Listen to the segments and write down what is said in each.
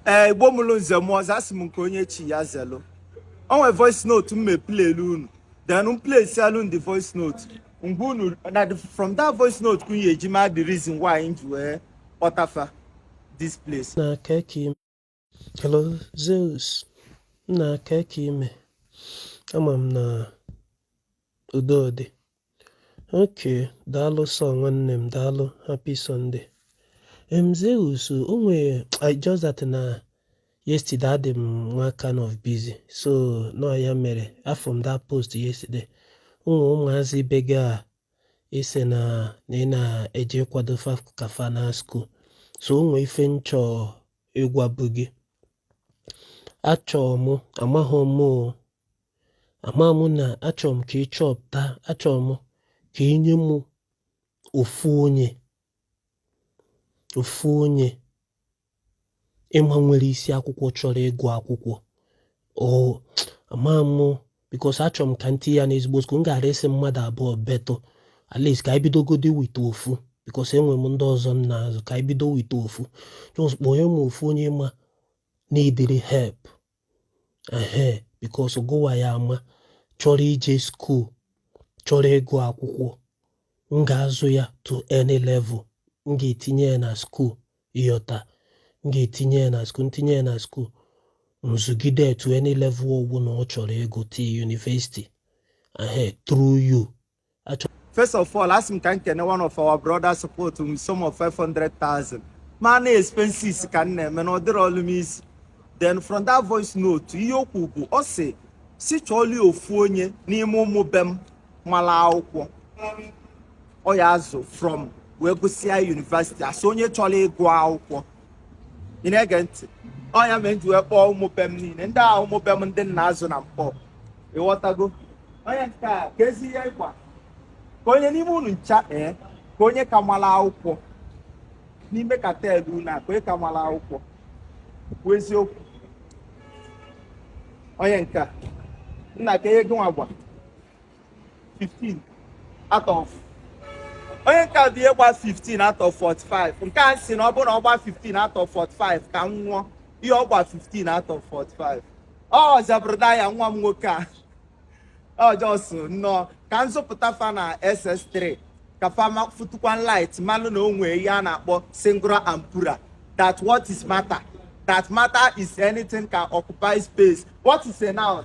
ee igbo mụrụ nze mụọ ọzọ asị m nke onye chi ya zelu o nwe voice note m me-playlụ unu then m playsịalụ unu the voice note mgbe unu na from that voice note ka unu ya-eji ma the reason why m ji wee kpọta fa this place nna kee ka ị me hello Zeus nna kee ka ị me ama m na udo dị okay daalụ so nwanne m daalụ happy sunday em zeus o nwere i just that na yesterday adị m nwa kind of busy so na ọ ya mere afụrọ m that post yesterday ụmụ ụmụazị be gị a ise na na ị na-eje ịkwado fa ka fa na school so o nwe ife m chọ ịgwabụ gị achọ m amaghị m ama m na achọ m ka ị chọpụta achọ m ka ị nye m ofu onye ofu onye ị ma nwere isi akwụkwọ chọrọ ịgụ akwụkwọ o ama m because achọ m ka m tii ya n'ezigbo school m gara asị mmadụ abụọ but at least ka anyị bidogodi with ofu because enwe m ndị ọzọ m na-azụ ka anyị bido with ofu just kpọnye m ofu onye ị ma needịrị help ehe because gụwa ya-ama chọrọ ije school chọrọ ịgụ akwụkwọ m ga-azụ ya to any level m ga-etinye ya na school ị ghọta m ga-etinye ya na school m tinye ya na school m zụgide to any level ọ bụna ọ chọrọ ịgụ till university ehe through you First of all, asị m ka m kene one of our brother support m sum of 500,000 ma na expenses ka m na-eme na ọ dịrọlụ m easy then from that voice note ihe o kwu bụ ọ sị sị chọọlụ ya ofu onye n'ime ụmụ be m malụ akwụkwọ ọ ya-azụ from wee gụsịa university asị onye chọrọ ịgụ akwụkwọ ị na-ege ntị ọ ya me m ji wee kpọọ ụmụ be m niile ndị ahụ ụmụ be m ndị m na-azụ na Nkpor ị ghọtago onye nke a keezi ihe ị gba kee onye n'ime unu ncha ee eh, kee onye ka malụ akwụkwọ n'ime cartel unu a kee onye ka malụ akwụkwọ kwuo eziokwu onye nke a nna kee ihe gị nwa gba 15 out of onye nke a kedụ ihe ị gba 15 out of 45 nke a sị na ọ bụrụ na ọ gba 15 out of 45 ka m nwụọ ihe ọ gba 15 out of 45 ọ za brother ya nwa m nwoke a ọ just nnọọ ka m zụpụta fa na ss3 ka fa fụtụkwanụ light malụ na o nwe ihe a na-akpọ singular and plural that what is matter that matter is anything can occupy space what is a noun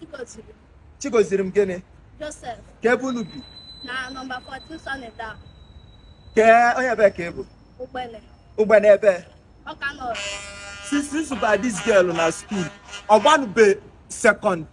Chigozirim. Chigozirim gịnị Joseph. kee ebe unu bi Na nọmba 14 Sunny Down. kee onye ebe ka ị bụ Ugbene. Ugbene ebe Ọka North. since m zụba this girl na school ọ gbanube second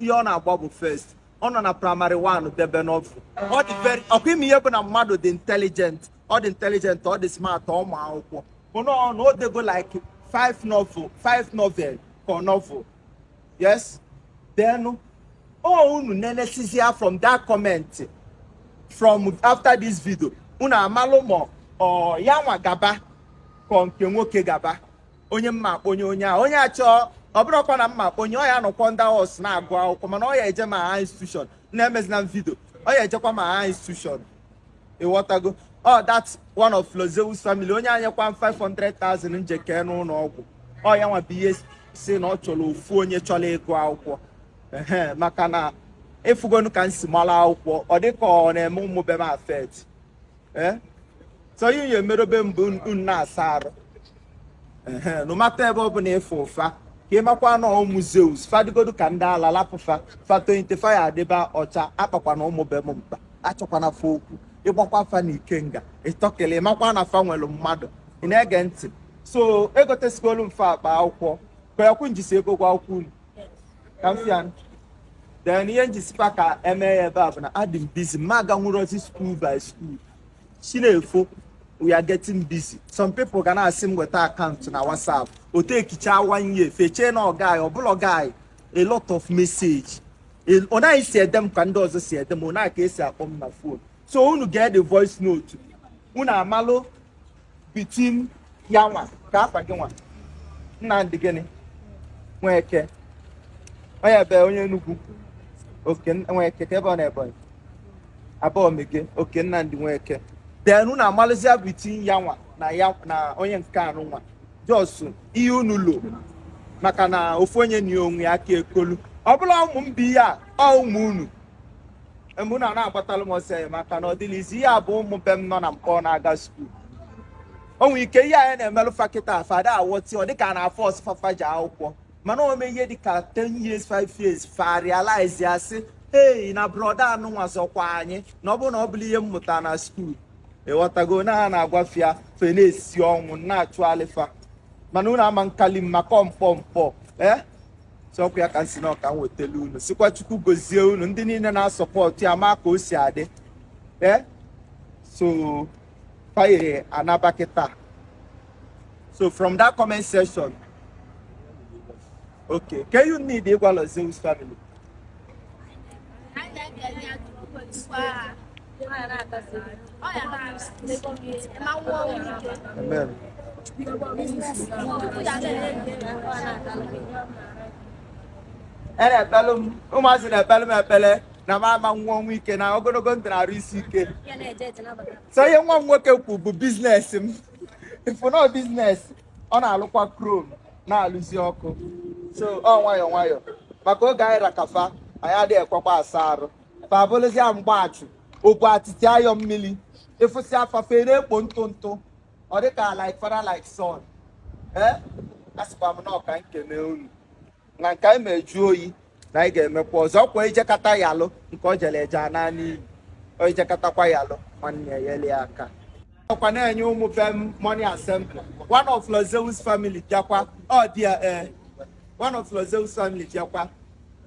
ihe ọ na-agba bụ first ọ nọ na praịmarị 1 debe novel ọ dị very ọkwa ịma ihe bụ na mmadụ dị intelligent ọ dị intelligent ọ dị smart ọ ma akwụkwọ bụ na ọ na o dego like 5 novel 5 novel ka ọ novel yes then unu nenesizie from that comment from after this video unu amalụ ma ọ ya nwa gaba ka ọ nke nwoke gaba onye m ma-akponye onye a onye achọọ ọ bụrụkwa na m ma-akponye ọ ya-anọkwa under us na-agụ akwụkwọ mana ọ ya eje ma higher institution na emezina m video ọ ya ejekwa ma higher institution ịghọtago ọ that's one of Lord Zeus family onye a nyekwa m 500,000 njeke n'ụlọ ọgwụ ọ ya nwa bịa sị na ọ chọrọ ofu onye chọrọ ịgụ akwụkwọ ee maka na ị fụgonu ka m si mara akwụkwọ ọ dị ka ọ na-eme ụmụ be m affect ee eh? so ihe ya emerobe mbụ unu na-asa arụ no matter ebe ọ bụla ị fụ fa ka ị makwa na ụmụ Zeus fa dịgodu ka ndị ala lapụ fa fa tonite fa ya-adịba ọcha akpakwana ụmụ be m mkpa achọkwana fa okwu ị gbakwa fa na ikenga ịtọkele ị makwa na fa nwere mmadụ ị na-ege ntị so egotesigolu m fa akpa akwụkwọ kweekwu njisi ego gwa akwụkwọ unu ka m fịa then ihe m ji sịkwa ka e mee ya ebe a bụ na adị m busy m aganwurọzi school by school Chi na-efo we are getting busy some people ga na-asị m weta akaụntụ na WhatsApp ọ takeịchaa one year fa echee na ọ guy ọ bụrọ guy a lot of message ọ naghị si ede m ka ndị ọzọ si ede m ọ naghị ka e si akpọ m na fon so unu gee the voice note unu amalụ between ya nwa kee afa gị nwa Nnamdị gịnị Nweke onye ebe onye Enugu okay Nweke kee ebe na Ebonyi Abaomege okay Nnamdị Nweke then unu amalụzia between ya nwa na ya na onye nke anụ nwa just ihe unu lo maka na ofu onye na onwe ya aka ekolu ọ bụla ụmụ m bụ ihe a ọ ụmụ unu mgbe unu na-agbatalụ m ọsọ enyemaka na ọ dịrọ easy ihe bụ ụmụ be m nọ na Nkpọ na-aga skuul o nwere ike ihe anyị na-emelụ fa kịta fa ada aghọta ya ọ dịka a na-aforce fa fa je akwụkwọ mana o mee ihe dịka 10 years 5 years fa realize ya sị ei na brọda anụ nwa zọkwa anyị na ọ bụrụ na ọ bụrọ ihe m mụta na skuul ịghọtago na ha na-agwa fa ya fa ana-esi ọnwụ na-achụ alịfa mana unu ama nkali m maka ọ Nkpọ Nkpọ ee eh? ọkwa ya ka m sị na ọ ka m wetelụ unu sịkwa Chukwu gozie unu ndị niile na-asọpọtụ ya ma ka o si adị ee eh? so fa ya-anaba kịta so from that comment section okay kee ihe unu need ịgwa Lord Zeus family Amen. A na-ekpelụ m ụmụazị na-ekpelụ m ekpele na m ama-anwụ ọnwụ ike na ogologo ndụ na arụ isi ike so ihe nwa m nwoke kwu bụ business m ifụnọ business ọ na-alụkwa krom na-alụzi ọkụ so ọ nwayọọ nwayọọ maka oge anyị ra ka fa anyị adịghị ekwekwa asa arụ fa bụlụzia mgbachụ obu atịtị ayọ mmiri ịfụsịa fa fa ana-ekpo ntụ ntụ ọ dịka like father like son ee asịkwa m na ọ ka m kene unu na nke anyị me juo oyi na anyị ga-emekwa ọzọ ọkwa ijekata ya alụ nke o jere eje ana n'iyi o ijekatakwa ya alụ nwanne ya yeli aka ọkwa na-enye ụmụ be m morning assembly one of Lord Zeus family bịakwa ọ dị ya ee one of Lord Zeus family bịakwa